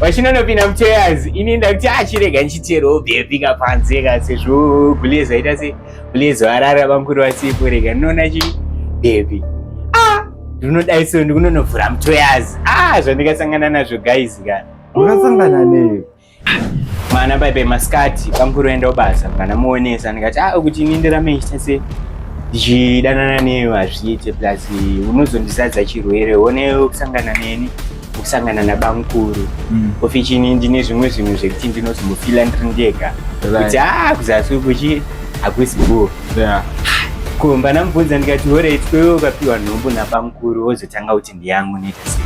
vachinonopinda muchairs ini ndakuti achirega ah, ndichiteerwo bepika panze ka sezvo gulezo aita se gulezo arara bamkuru vasipo rega ndinoona chi bepi ah ndinodai so ndikunonovhura muchairs ah zvandikasangana nazvo guys ka wakasangana neyo mwana baibe masikati bamkuru aenda kubasa kana muonesa ndikati ah kuti ini ndirame ndichita se ndichidanana neyo hazviite plus unozondizadza chirwere one kusangana neni kusangana nabamukuru mm. ofichini ndine zvimwe zvinhu zvekuti ndinozomufila ndiri ndega kuti a ah, kuzasi kuchi hakusi go ko mbanamubvunza ndikati horait kwewe ukapiwa nhombo nabamukuru wozotanga kuti ndiyangu nekasi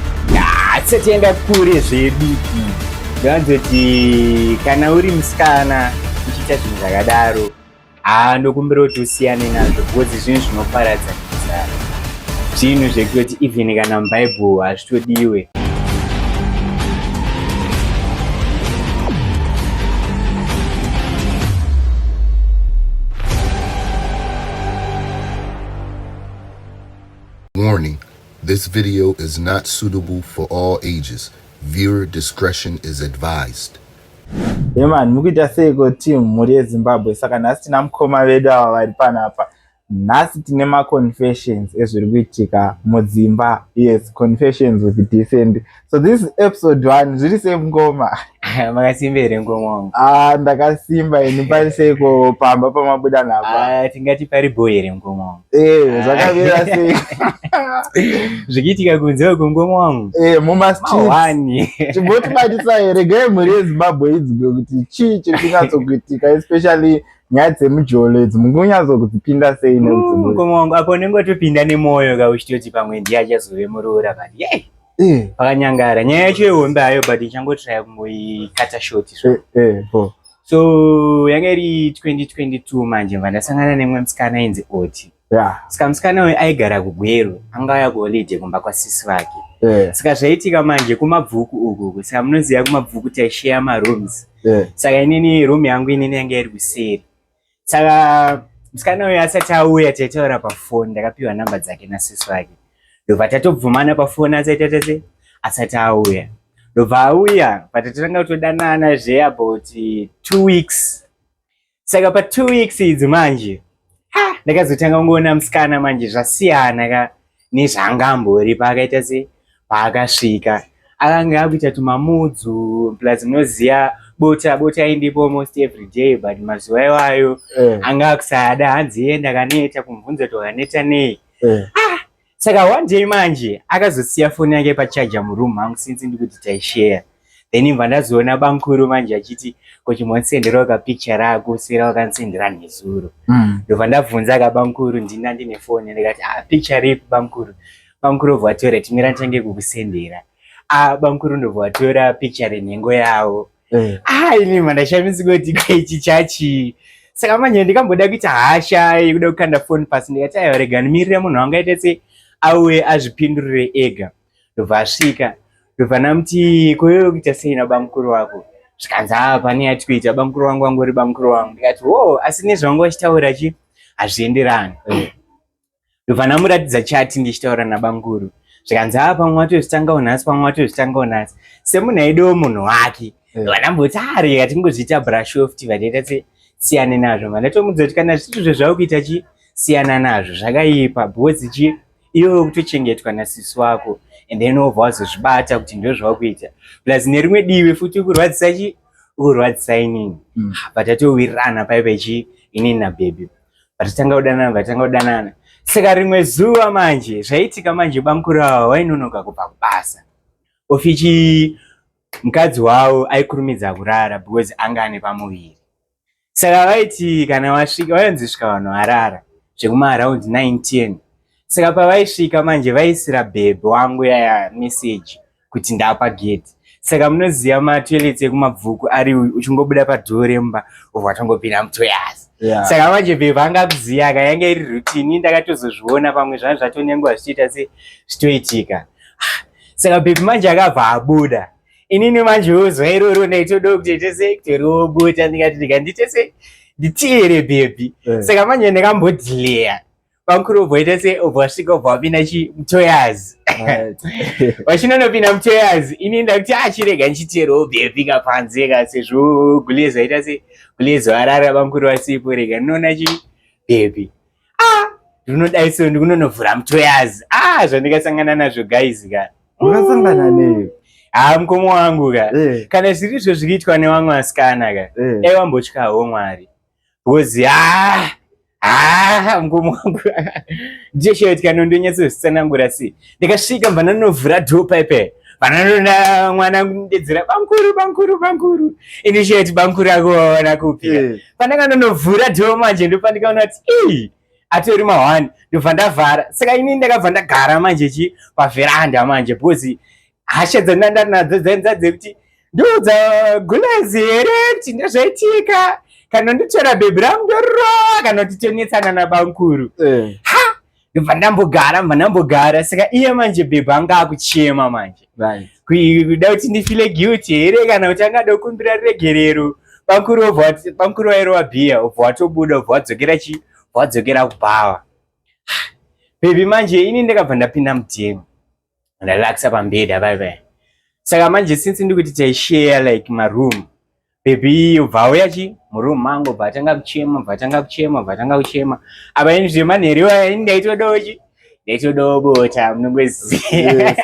hatisati yenda kure zvedu mm. ndaanzoti kana uri musikana uchiita zvinhu zvakadaro haa ndokumbira kuti usiyane nazvo because zvinhu zvinoparadza kuzara zvinhu zvekutoti even kana mubhaibhuru hazvitodiwe Warning, this video is not suitable for all ages. Viewer discretion is advised. Hey man, mukuita seiko team mhuri yeZimbabwe saka nhasi tina mukoma vedu ava vari panapa. Nhasi tine ma confessions ezviri kuitika mudzimba. Yes, confessions with descent. So this is episode 1 zviri sei mukoma? Makasimba here mukoma wangu? Ah, ndakasimba ini pari seiko pamba pamabuda napa. Ah, tingati pari boy here mukoma wangu? Eh, zvakamira sei zvichiitika kunze kwekungoma wangu eh, mumastwani chimbotibatisa here gai mhuri yezimbabwe idzike kuti chii chiri kunyatsokuitika especially nyaya dzemujolo idzi munge unyatsokudzipinda sei neungoma mm, wangu apo unenge watopinda nemwoyo ka uchitoti pamwe ndiye achazove muroora but yei eh. pakanyangara nyaya yacho ihombe hayo but ichangotiraya kungoikata shoti zvo eh, so yanga iri 2022 manje mva ndasangana nemwe musikana inzi oti yeah. saka musikana uyu aigara kugweru anga aya kuholide kumba kwasisi vake yeah. saka zvaitika manje kumabvuku ukuku saka munoziva kumabvuku taisheya marooms yeah. saka inini room yangu inini yanga iri kuseri saka musikana uyo asati auya taitaura pafoni ndakapiwa namba dzake nasisi wake ndobva tatobvumana pafoni asaita tese asati auya ndobva auya patatotanga kutodanana zve about two weeks saka pa two weeks idzi manje ndakazotanga kungoona musikana manje zvasiyana ka nezvanga ambori paakaita se paakasvika akanga akuita tumamudzu plus munoziva bota bota aindipo almost every day but mazuva iwayo eh. anga akusada hanzi iye ndakaneta kumubvunza kuti wakaneta nei eh. ah, saka one day manje akazosiya foni yake pachaja muroom mangu since ndikuti taishare then imva ndazoona bamkuru manje achiti kuti monsenderawo kapicture raakusira wakansendera nezuro mm. ndobva ndabvunza ka bamkuru ndina ndine foni ndikati ah, picture ripi bamkuru bamkuru obva vatora timira nchange kukusendera ah, bamkuru ndobva vatora picture renhengo yavo eh. ah, ini mandashamisi kuti kwaichi chachii saka manje ndikamboda kuita hasha yekuda kukanda foni pasi ndikati aiwa rega ndimirire munhu wangaite se auye azvipindurire ega ndobva asvika ndobva ndamuti koyero kuita sei nabamukuru wako zvikanzi aa pane yatikuita bamukuru wangu wangori bamukuru wangu ndikati wo oh, asi nezvavanga vachitaura chi hazvienderani eh. ndobva ndamuratidza chati ndichitaura nabamukuru zvikanzi aa pamwe watozvitangawo nhasi pamwe watozvitangawo nhasi semunhu aidewo munhu wake eh. vandamboti ari ah, atingozviita brashoft vandaita se siyane nazvo vandatomudza kuti kana zvituzvo zvavo kuita chi siyana nazvo zvakaipa bhozi chi iwe ukutochengetwa nasisi wako and then wobva wazozvibata kuti ndozvawakuita plus nerimwe divi futi ukurwadzisa chi ukurwadzisa inini mm. but atowirirana paipa chi inini nabhebhi but tanga kudanana but tanga kudanana saka rimwe zuva manje zvaitika manje bamukuru ava wainonoka kubva kubasa ofichi mukadzi wavo aikurumidza kurara because anga ane pamuviri saka vaiti kana vasvika vainzi svika vanhu varara zvekumaround 910 saka pavaisvika manje vaisira bhebhe wangu yaya meseji kuti ndapa gate saka munoziva matoilets ekumabvuku ari uchingobuda padhuo remba obva atongopinda mutoyasi yeah. saka manje bhebhe anga akuziva ka yanga iri rutini ndakatozozviona pamwe zvanga zvatonyanguva zvichiita se zvitoitika ah, saka bhebhe manje akabva abuda inini manje uzuva iroro ndaitoda kuti tese toriwo bota ndikati ndikanditese nditiere bhebhi eh. saka manje ndakambodhileya vakuru obvoita se obvasvika obva vapinda chimutoyazi vachinonopinda mutoyazi ini ndakuti achirega ah, ndichiteerwo bhebhika panze ka sezvo gulezi vaita se gulezi varara vamukuru vasipo rega ndinoona chi bhebhi ah ndinodai so ndikunonovhura mtoyazi ah zvandikasangana nazvo guys ka wakasangana mm. nei haa ah, mukoma wangu ka eh. kana zviri izvo zvikiitwa newamwe asikana ka eh. dai wambotyawo mwari because haa ah, haa ah, mukoma wangu ndiyesheyotyano ndonyatso zvisanangura sei ndikasvika mva ndanovhura dhoo paipe vananona mwana kundedzera bankuru bankuru bankuru ini cheti bankuru akuvaona kupi eh. pandanga ndonovhura dhoo manje ndopandikaona kuti ii atori mahwani ndobva ndavhara saka ini ndakabva ndagara manje chi pavheranda manje bhozi hasha dzandandari nadzo dzainza dzekuti ndodza gulazi here kuti ndozvaitika kana nditora bhebhi rangu ndorova kana kuti tonetsana nabankuru eh. ha ndobva ndambogara ndobva ndambogara saka iye manje bhebhi anga akuchema manje kuda kuti ndifile guilty here kana kuti angada kukumbira regerero pamukuru wairova bhiya ubva watobuda ubva wadzokera chii wadzokera kubhawa bhebhi manje ini ndakabva ndapinda mutemo ndalaxa pambeda bye bye saka manje since ndikuti taishare like maroom baby yobva auya chi muroom mangu bva atanga kuchema bva atanga kuchema bva atanga kuchema apa ini zvemanheru aya ini ndaitodawo chi ndaitodawo bota munongoziva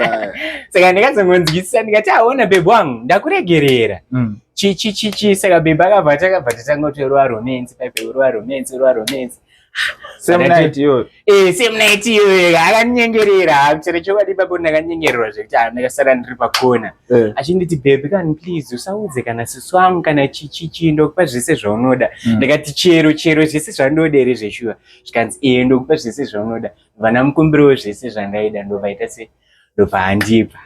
saka ndikazongonzwisisa ndikati aona ah, bebe wangu ndakuregerera mm. chichichichi saka bebe akabva takabva tatanga kuti ruva romance paipe ruva romance ruva romance same night iyoyo eh same night iyoyo akanyengerera chero chokwadi ipapo ndakanyengererwa zvekuti ah, ndakasara ndiri pakona eh. achinditi baby kani please usaudze kana sisi wangu kana chichichi ndokupa zvese zvaunoda hmm. ndakati chero chero zvese zvandoda here zveshuwa zvikanzi ee eh, ndokupa zvese zvaunoda vana mukumbiriwo zvese zvandaida ndovaita se ndopaandipa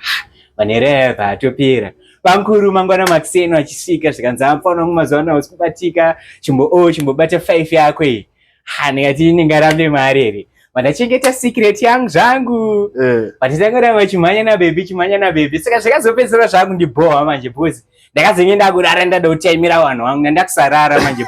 manhere aya paatopera bamkuru mangwana makuseni achisvika zvikanzi amfaona wangu mazuva ano hausi kubatika chimbo o oh, chimbobata five yako iyi ha ndikati ndingarambe mari here vandachengeta secret yangu zvangu eh. vatitangoda vachimhanya nabebi chimhanya nabebi saka zvakazopedzera zvangu ndibhohwa manje bhozi ndakazenge ndakurara ndada kutaimira vanhu vangu ndandakusarara manje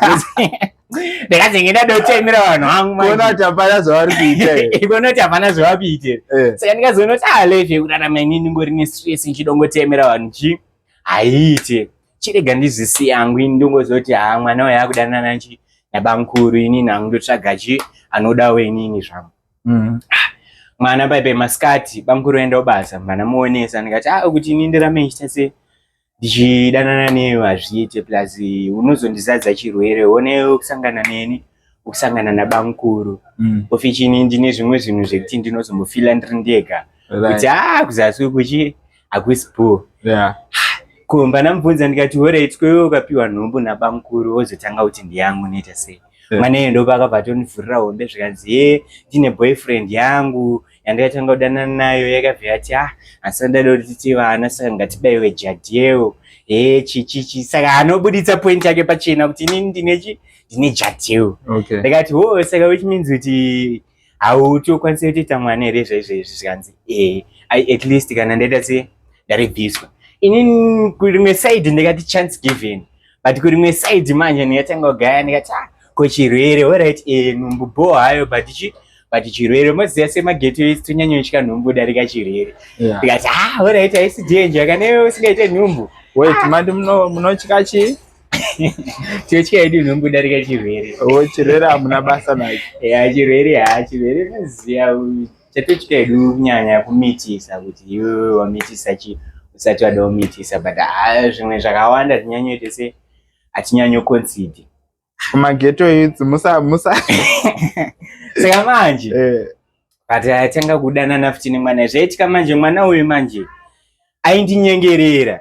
ndakazenge ndada kutaimira vanhu vangu kuona kuti hapana zvavari kuita kuona kuti hapana zvavari kuita eh. saka ndikazoona kuti alefe ah, kurarama ini ndingori nestress ndichida kungotaimira vanhu chi haiite chirega ndizvisi yangu ini ndongozoti ha ah, mwana uyo akudanana chi nabamkuru inini hangu ndotsvaga chi anodawo inini zvangu mm. Ah, mwana baibe masikati bamkuru enda ubasa mwana muonesa ndikati a ah, kuti ini ndirame ndichita se ndichidanana newe hazviite plus unozondizadza chirwere one ukusangana neni ukusangana nabamkuru mm. ofi chini ndine zvimwe zvinhu zvekuti ndinozombofila ndiri ndega kuti a ah, kuzasi kuchi hakusi bho yeah. ko mbanamubvunza ndikati horait kweiwe ukapiwa nhumbu nabamukuru wozotanga kuti ndiyangu unoita sei yeah. mwana iye ndopakabva atonivhurira hombe zvikanzi ye ndine boyfriend yangu yandikatanga kudanana nayo yakabva yati ah asi ndada kuti tiite vana saka ngatibaiwe jadhiyewo e chichichi saka anobuditsa point yake pachena kuti inini ndine chi ndine jadhiyewo okay. ndikati wo saka which means kuti hauti ukwanise kutoita mwana here zvaizvoizvi zvikanzi ee i at least kana ndaita se ndarebviswa inini kurimwe side ndikati chance given but kurimwe side manje ndikatanga kugaya ndikati ah, ko chirwere orit e eh, nhumbu bho hayo but chi but chirwere moziva semageto isi tonyanyoitya nhumbu darika chirwere ndikati ah, ha orit haisi danger kana iwe usingaite nhumbu wait mandi munotya chii chotya yedu inongodarika chirwere o oh, chirwere hamuna basa nacho ya chirwere ha chirwere maziya chatotya yedu kunyanya kumitisa kuti iwewe wamitisa chi usati wada kumitisa but ah, zvimwe zvakawanda tinyanyoite se hatinyanyo consider kumageto youth musa musa saka manje eh. but atanga kudanana futi nemwana zvaitika manje mwana uyu manje aindinyengerera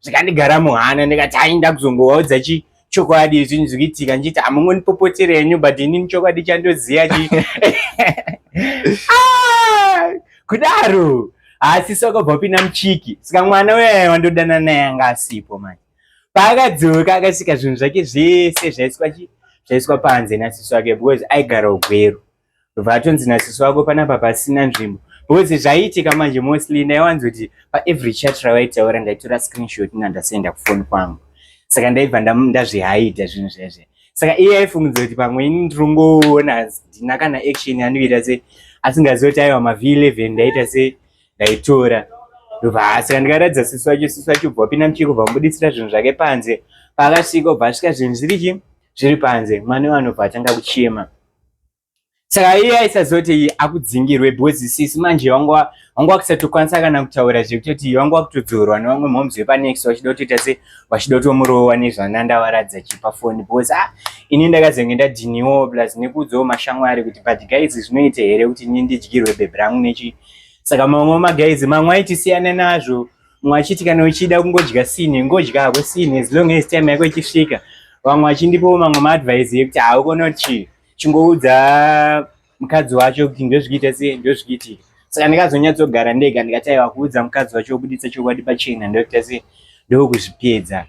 zvikandigara muhana ndikati hai ndakuzongovaudza chi chokwadi zvinhu zvikuitika ndichiti hamungonipopotere henyu but inini chokwadi chandoziva chi ah, kudaro asi sakabva pina muchiki saka mwana uyaye wandodana naye anga asipo manje paakadzoka akasika zvinhu zvake zvese zvaiswa chi zvaiswa panze nasiso ake because aigara ugweru vatonzi nasisi wako panapa pasina nzvimbo because zvaiitika manje mostly ndaiwanzoti paevery chat rawaitaura ndaitora screenshot na ndasenda kufoni kwangu saka ndaibva ndazvihaida zvinhu zvezve saka iye aifungidza kuti pamwe ini ndirongoona ndina kana action anoita se asingazivi kuti aiwa mavhi 11 ndaita se ndaitora ndobva saka ndikaratidza sisi wacho sisi wacho bva wapinda muchiko bva mubuditsira zvinhu zvake panze paakasvika bva asvika zvinhu zviri chi zviri panze mwana wanobva atanga kuchema saka iye aisazoti akudzingirwe because sisi manje wanga wakusatokwanisa kana kutaura zvekutoti wanga wakutodzorwa nevamwe moms vepanext vachida kutoita se vachida kutomurowa nezvana ndavaradza chipa foni because a ah, ini ndakazenge ndadhiniwo plus nekuudzawo mashamwari kuti but guys zvinoita here kuti ini ndidyirwe bhebhi rangu nechi saka mamwe magaizi mamwe aitisiyana nazvo mumwe achiti kana uchida kungodya sini ngodya hako sini as long as time yako ichisvika vamwe vachindipawo mamwe maadvise yekuti haukona kuti chii chingoudza mukadzi wacho kuti ndozvikiita se ndozvikiitika saka ndikazonyatsogara ndega ndikati aiwa kuudza mukadzi wacho wokuditsa chokwadi pachena ndokuita se ndokuzvipedza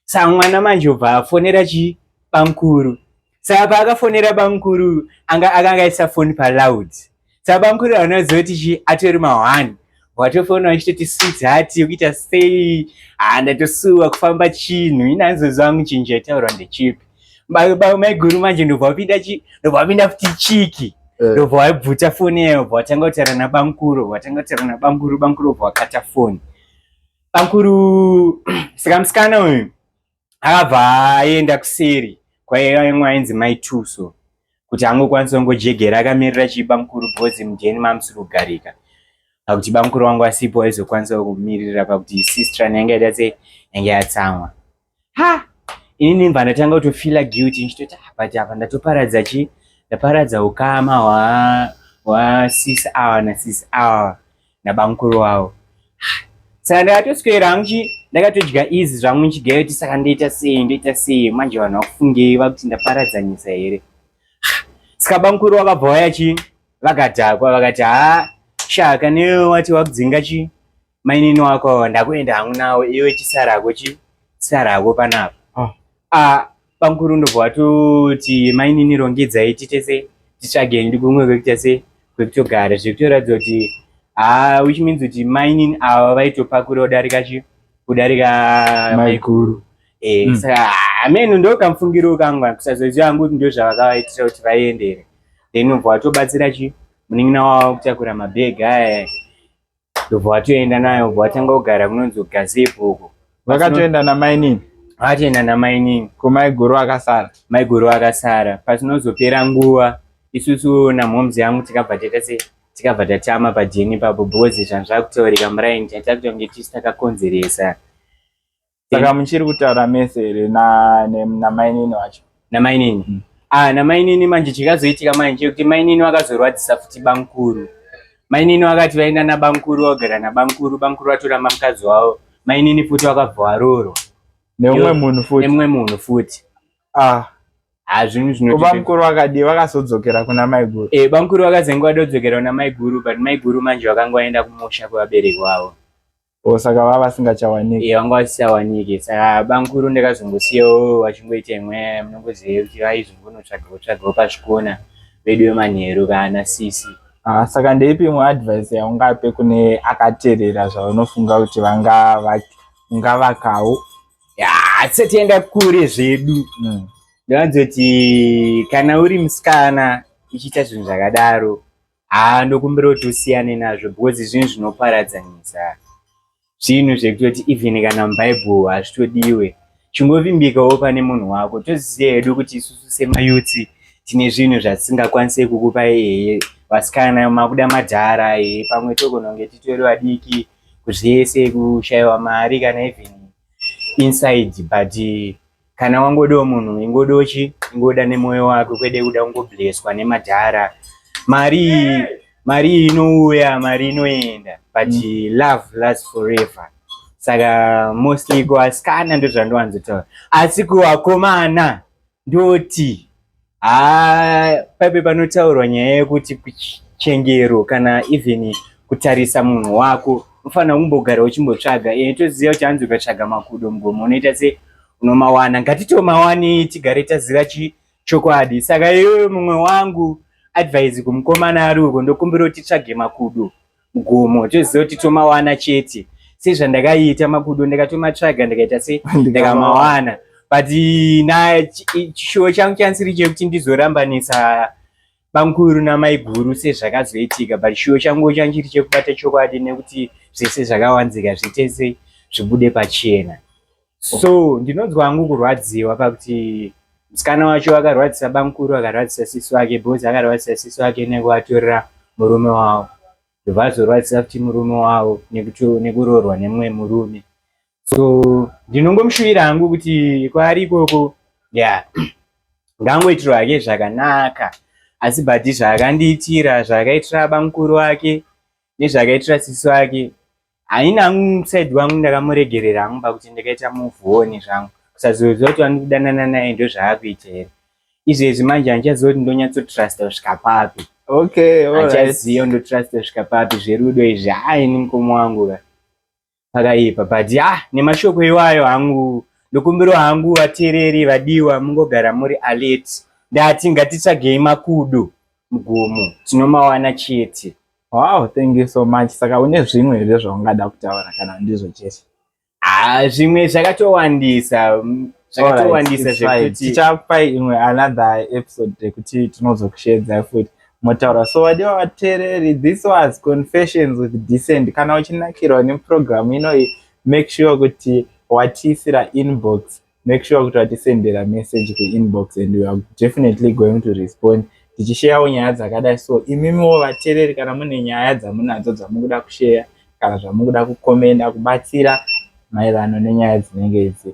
sa mwana manje obva afonera chii bamkuru saka paakafonera bamukuru anga akanga aisa foni paloud saka bamukuru aona zoti chi atori mahwani watofona wachitoti swits hati yokuita sei haa ndatosuwa kufamba chinhu ini anzozwa wangu chinhu chaitaurwa ndechipi maiguru manje ndobva wapinda chi ndobva wapinda futi chiki eh. ndobva waibvuta foni yayo obva watanga kutaura nabamukuru watanga kutaura nabamukuru bamukuru obva wakata foni bamukuru saka musikana uyu akabva aenda kuseri kwaimwe ainzi mai tuso kuti angokwanisa kungojegera akamirira chibamukuru bhozi mudheni mamusiri kugarika pakuti bamukuru wangu asipo aizokwanisa kumiririra pakuti sistra nayanga ita se yange yatsamwa ha ini ndimva ndatanga kutofila guilty ndichitoti ah, but apa ndatoparadza chi ndaparadza ukama hwasisi awa nasisi awa nabamukuru wavo saka ndakatoswera hangu ndakatodya izi zvangu ndichigayo kuti saka ndoita sei ndoita sei manje vanhu vakufungei vakuti ndaparadzanyisa here saka bamukuru vakabva vaya chi vakadhakwa vakati haa shaka newe wati wakudzinga chi mainini wako ndakuenda hangu nawo iwe chisarako chi sarako panapa ah. ah, Bamkuru ndobva watoti mainini rongidzai titese titsvage ndi kumwe kwekutese kwekutogara zvekutoratidza kuti haa which means kuti mainini ava vaitopakura kudarika chi kudarika maiguru eh, mm. saka hameno ndokamfungiro kangu kusazoziva hangu kuti ndozvavakavaitira kuti vaendere then ubva watobatsira chi munin'ina wavo kutakura mabhegi aya ndobva watoenda nayo bva watanga kugara kunonzi ugazepo uko vakatoenda namainini vatoenda namainini ko maiguru akasara maiguru akasara patinozopera nguva isusu namhomzi yangu tikabva taita se tikabva tatama pajeni ipapo because zvanzvakutaurika muraini taita kutonge tisi takakonzeresa saka muchiri kutaura mese here namainini wacho namainini mm. ah, namainini manje chikazoitika manje chekuti mainini vakazorwadzisa futi bamkuru mainini vakati vaenda nabamkuru vagara nabamkuru bamkuru vatora mamukadzi wavo mainini futi vakabva varorwa neumwe munhu futi neumwe munhu futi ah hazvinhu zvino bamkuru vakadii vakazodzokera kuna maiguru e, bamkuru vakazenge vadodzokera kuna maiguru but maiguru manje vakanga vaenda kumusha kwevabereki vavo Oh, saka vava vasingachawaniki yeah, vanga vasichawaniki saka bamkuru ndakazongosiyawo vachingoita imwe munongoziva kuti vaizongonotsvagawo tsvagawo pazvikona vedu vemanheru kana sisi ah, saka ndeipi imwe advice yaungape kune akaterera zvaunofunga kuti vanga ungavakawo hatisati yanga kure zvedu mm. ndovanzoti kana uri musikana uchiita zvinhu zvakadaro haa ndokumbira kuti usiyane nazvo because zvinhu zvinoparadzanisa zvinhu zvekutoti even kana mubhaibhuru hazvitodiwe chingovimbikawo pane munhu wako toziziva hedu kuti isusu semayutsi tine zvinhu zvatisingakwanise kukupa iyeye vasikana makuda madhara iyeye pamwe togononge titori vadiki zvese kushayiwa mari kana even inside but kana wangodawo munhu ingodawo chi ingoda nemoyo wako kwede kuda kungobleswa nemadhara mari mari inouya mari inoenda but mm. love lasts forever saka mostly kuasikana ndozvandowanzotaura asi kuvakomana ndoti Ah, paibe panotaurwa nyaya yekuti chengero kana even kutarisa munhu wako unofanira kumbogara uchimbotsvaga e, toziva kuti hanzi ukatsvaga makudo mugomo unoita se unomawana ngatitomawanei tigare taziva chi chokwadi saka iyoyo mumwe wangu advise kumukomana ari uko ndokumbira kuti tsvage makudo gomo toziva kuti tomawana chete sezvandakaita makudo ndakatomatsvaga ndakaita se ndakamawana but na chishuwo changu chansiri chekuti ndizorambanisa bamkuru namaiguru sezvakazoitika but chishuwo changu changu chiri chekubata chokwadi nekuti zvese zvakawanzika zvitese zvibude pachena so ndinonzwa hangu kurwadziwa pakuti musikana wacho akarwadzisa bamukuru akarwadzisa sisi wake bhozi akarwadzisa sisi wake nekuvatorera murume wavo vazorwadzisa kuti murume wavo nekuroorwa nemumwe murume so ndinongomushuvira hangu kuti kwaari ikoko ya ngangoitirwa hake zvakanaka asi but zvaakandiitira zvaakaitira bamukuru wake nezvakaitira sisi wake haina hangu said wangu ndakamuregerera hangu pakuti ndakaita muvuone zvangu kusazoziva kuti vani kudanana naye ndozvaakuita here izvezvi manje handichaziva kuti ndonyatsotrust kusvika papi okay handichaziva ndotrust kusvika papi zverudo izvi haini mukoma wangu ka pakaipa but ya ah, nemashoko iwayo hangu ndokumbirwa hangu vateereri vadiwa mungogara muri alert ndati ngatitsvagei makudo mugomo tinomawana chete wow thank you so much saka une zvimwe here zvaungada kutaura kana ndizvo chete ah, zvimwe zvakatowandisa zvakatowandisa zvekuti tichakupai imwe another episode yekuti tinozokusheedzai futi motaura so vadiwa vateereri this was confessions with decent kana uchinakirwa neprogramu inoyi make sure kuti watiisira inbox make sure kuti watisendera message kuinbox and weare definitely going to respond tichisheyawo nyaya dzakadai so imimiwo vateereri kana mune nyaya dzamunadzo dzamukuda kusheya kana zvamukuda kukomenda kubatsira maererano nenyaya dzinenge idzi